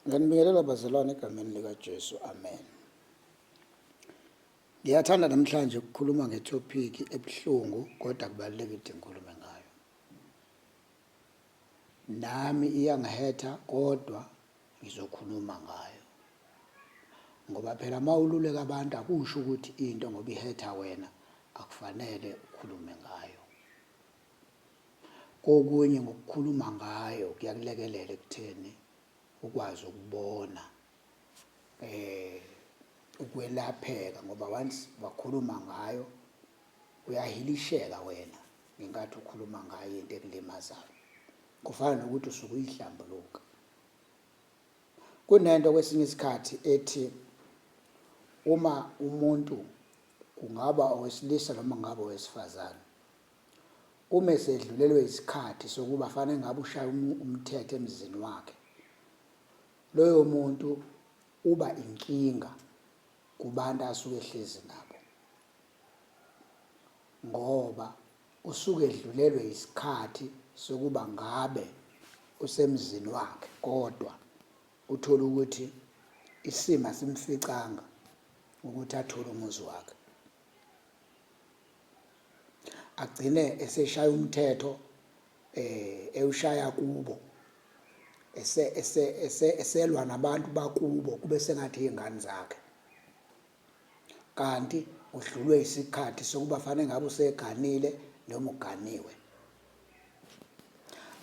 ngiyanibingelela bazalwane egameni likajesu amen ngiyathanda namhlanje ukukhuluma ngethopiki ebuhlungu kodwa kubalulekile ukuthi ngikhulume ngayo nami iyangihetha kodwa ngizokhuluma ngayo ngoba phela uma ululeka abantu akusho ukuthi into ngoba ihetha wena akufanele ukhulume ngayo Kokunye ngokukhuluma ngayo kuyakulekelela ekutheni ukwazi ukubona eh ukwelapheka ngoba once wakhuluma ngayo uyahilisheka wena ngenkathi ukhuluma ngayo into ekulimazayo kufana nokuthi usuke uyihlambuluka kunento kwesinye isikhathi ethi uma umuntu kungaba owesilisa noma ngabe owesifazane Uma esedlulelwe isikhathi sokuba fane ngabe ushaya umthetho emzini wakhe, loyo muntu uba inkinga kubantu asuke ehlezi nabo ngoba usuke edlulelwe isikhathi sokuba ngabe usemzini wakhe kodwa uthole ukuthi isimo asimficanga ukuthi athole umuzi wakhe agcine eseshaya umthetho eh ewushaya kubo ese ese ese eselwa nabantu bakubo kube sengathi izingane zakhe kanti udlulwe isikhathi sokuba fanele ngabe useganile noma uganiwe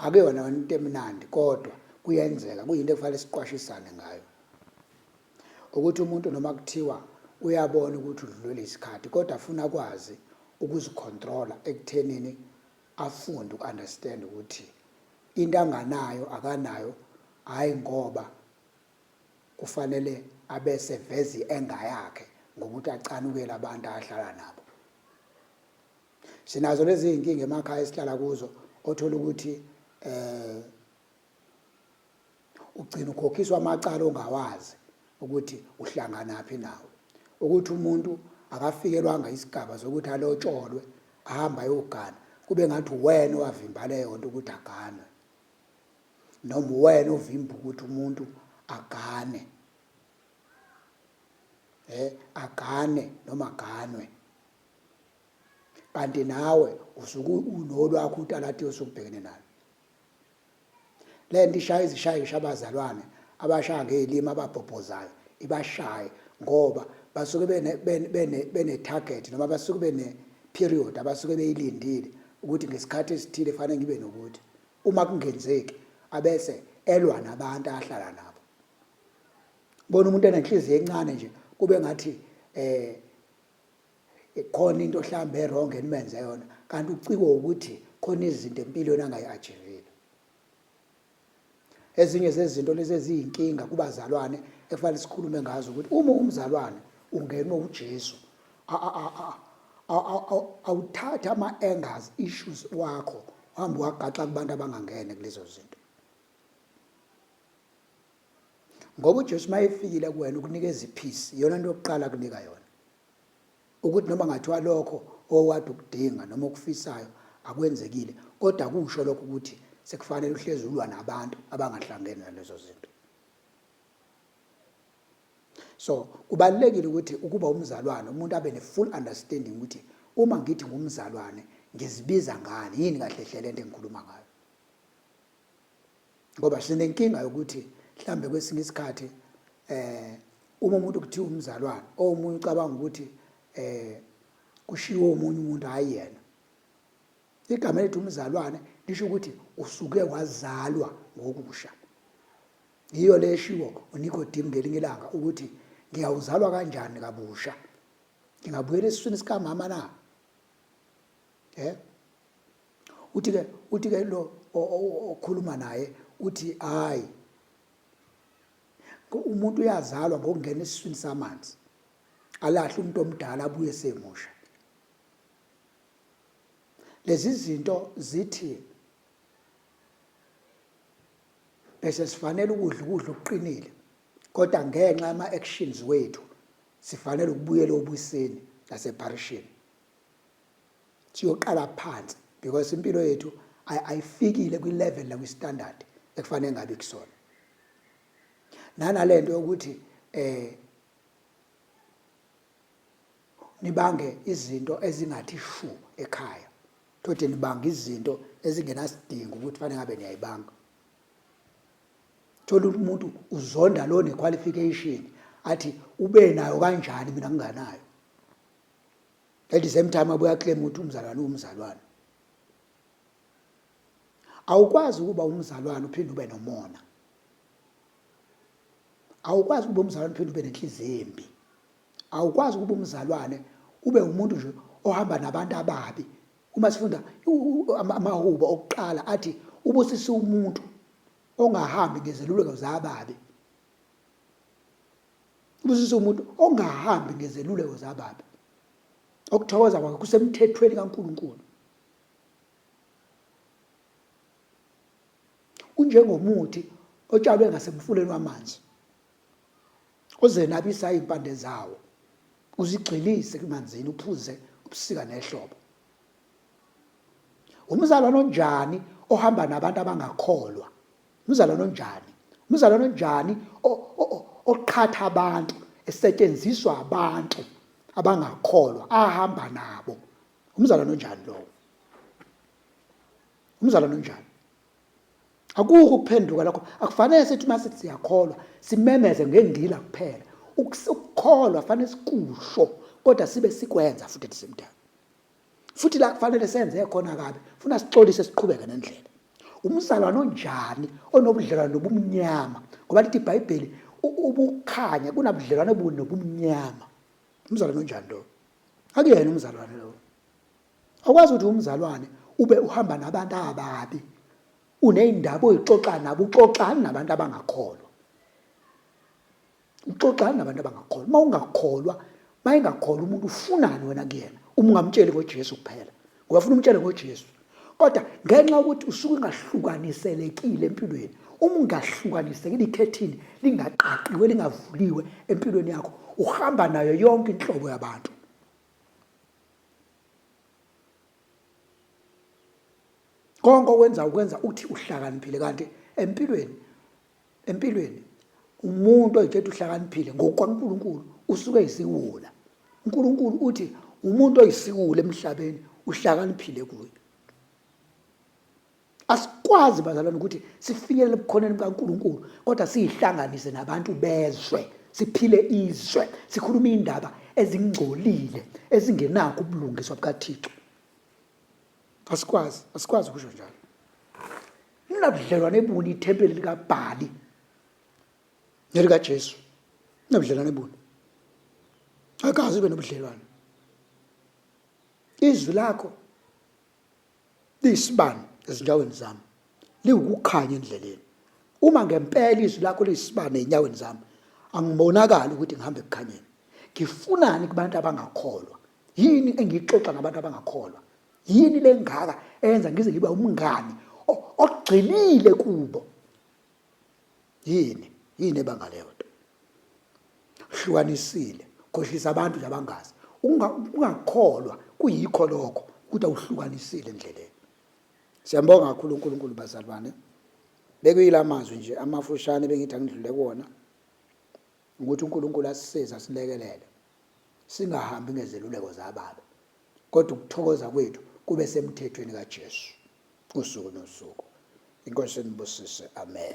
akuyona into emnandi kodwa kuyenzeka kuyinto ekufanele siqwashisane ngayo ukuthi umuntu noma kuthiwa uyabona ukuthi udlulele isikhathi kodwa afuna akwazi ukuzicontrola ekuthenini afunde uku-understand ukuthi into anganayo akanayo hhayi ngoba kufanele abese vezi enga yakhe ngokuthi acanukele abantu ahlala nabo sinazo lezi iy'nkinga emakhaya esihlala kuzo othola ukuthi um ugcina ukhokhiswa amacala ongawazi ukuthi uhlanganaphi nawo ukuthi umuntu akafikelwanga isigaba sokuthi alotsholwe ahamba ayogana kube ngathi uwena owavimba leyo nto ukuthi aganwe noma uwena ovimba ukuthi umuntu agane eh agane noma aganwe kanti nawe usuke unolwakho utalati osubhekene nalo le nto ishaya izishayisha abazalwane abashaya ngey'limi ababhobhozayo ibashaye ngoba basuke bene-target noma basuke bene-period abasuke beyilindile ukuthi ngesikhathi esithile fanele ngibe nokuthi uma kungenzeki abese elwa nabantu ahlala nabo bona umuntu enenhliziyo encane nje kube ngathi eh Ikhona into hlambe erong enimenze yona kanti ucikwe ukuthi khona izinto empilweni angayi-achivile. Ezinye zezinto lezi eziyinkinga kubazalwane ekufanele sikhulume ngazo ukuthi uma umzalwane ungenwe uJesu awuthatha ama-angers issues wakho uhambe wagaxa kubantu abangangene kulezo zinto ngoba uJesu mayefikile kuwena ukunikeza ipeace yona nto yokuqala kunika yona Ukuthi noma ngathiwa lokho owade ukudinga noma okufisayo akwenzekile kodwa akusho lokho ukuthi sekufanele uhlezi ulwa nabantu abangahlangene nalezo zinto. So kubalulekile ukuthi ukuba umzalwane umuntu abe ne full understanding ukuthi uma ngithi ngumzalwane ngizibiza ngani yini kahle hle lento engikhuluma ngayo. ngoba sinenkinga yokuthi mhlambe kwesinye isikhathi eh uma umuntu kuthiwa umzalwane omunye ucabanga ukuthi eh kushiwo umunye umuntu hayi yena igama elithi umzalwane lisho ukuthi usuke wazalwa ngokusha yiyo le eshiwo uNicodim ngelinye ilanga ukuthi ngiyawuzalwa kanjani kabusha ngingabuyela esiswini sikamama na eh uthi ke uthi ke lo okhuluma naye uthi hayi umuntu uyazalwa ngokungena esiswini samanzi alahle umuntu omdala abuye semusha lezi zinto zithi bese sifanele ukudla ukudla okuqinile kodwa ngenxa ama actions wethu sifanele ukubuyela obuseni nasepharishini Siyoqala phansi because impilo yethu ayifikile kwi level nakwi standard ekufanele ngabe kusona. Nanalento yokuthi eh nibange izinto ezingathi shu ekhaya. Thothi nibanga izinto ezingenasidingo ukuthi fanele ngabe niyayibanga. Thola umuntu uzonda lo ne qualification athi ube nayo kanjani mina nginganayo. at the same time abuya claim ukuthi umzalwane umzalwane awukwazi ukuba umzalwane uphinde ube nomona awukwazi ukuba umzalwane uphinde ube nenhliziyo embi awukwazi ukuba umzalwane ube umuntu nje ohamba nabantu ababi uma sifunda amahubo okuqala athi ubusisa umuntu ongahambi ngezeluleko zababi Ubusisa umuntu ongahambi ngezeluleko zababi. Okuthokoza kwakhe kusemthethweni kaNkulunkulu. Unjengomuthi otshalwe ngasemfuleni wamanzi ozenabisa impande zawo uzigxilise kumanzini uphuze ubusika nehlobo umzalwane onjani ohamba nabantu abangakholwa Umzalwane onjani? Umzalwane onjani oqhatha abantu, esetshenziswa abantu abangakholwa ahamba nabo. Umzalwane onjani lowo? Umzalwane onjani? Akukho ukuphenduka lokho. Akufanele sithi uma sithi siyakholwa simemeze ngendila kuphela. Ukukholwa fanele sikusho kodwa sibe sikwenza futhi at the same time. futhi la kufanele senze khona kabi funa sixolise siqhubeke nendlela umzalwane onjani onobudlelwane nobumnyama ngoba lithi ibhayibheli ubukhanya kunabudlelwane buni nobumnyama umzalwane onjani lo akuyena umzalwane lo akwazi ukuthi umzalwane ube uhamba nabantu ababi uneyindaba oyixoxa nabo uxoxani nabantu abangakholwa uxoxana nabantu abangakholwa uma ungakholwa uma engakholwa umuntu ufunani wena kuyena uma ungamtsheli ngojesu kuphela ngoba funa umtshele ngojesu kodwa ngenxa yokuthi usuke ungahlukaniselekile empilweni uma ungahlukanisekile ikhethini lingaqaqiwe lingavuliwe empilweni yakho uhamba nayo yonke inhlobo yabantu konke okwenza ukwenza uthi uhlakaniphile kanti empilweni Empilweni umuntu oyithethe uhlakaniphile ngokukaNkulunkulu usuke isiwula. UNkulunkulu uthi umuntu oyisiwula emhlabeni uhlakaniphile kuye. Asikwazi bazalwane ukuthi sifinyelele ebukhoneni bukaNkulunkulu kodwa siyihlanganise nabantu bezwe, siphile izwe, sikhulume indaba ezingcolile ezingenakho ubulungiswa bukaThixo. Asikwazi, asikwazi ukusho njalo. Ninabudlelwane buni ithempeli likaBhali nelikaJesu? Ninabudlelwane buni? Akazi ube nobudlelwane. Izwi lakho liyisibani ezinyaweni zami, liwukukhanya endleleni. Uma ngempela izwi lakho liyisibani ezinyaweni zami, angibonakali ukuthi ngihambe ekukhanyeni. Ngifunani kubantu abangakholwa? Yini engiyixoxa ngabantu abangakholwa? yini lengaka eyenza ngize ngibe umngani ogxilile kubo yini yini ebanga leyo nto hlukanisile khohlisa abantu nje abangazi ungakholwa kuyikho lokho ukuthi awuhlukanisile endleleni siyambonga kakhulu uNkulunkulu bazalwane bekuyila mazwi nje amafushane bengithi angidlule kuwona ukuthi uNkulunkulu asisize asilekelele singahambi ngezeluleko zababa kodwa ukuthokoza kwethu kube semthethweni kaJesu usuku nosuku. Inkosi inibusise. Amen.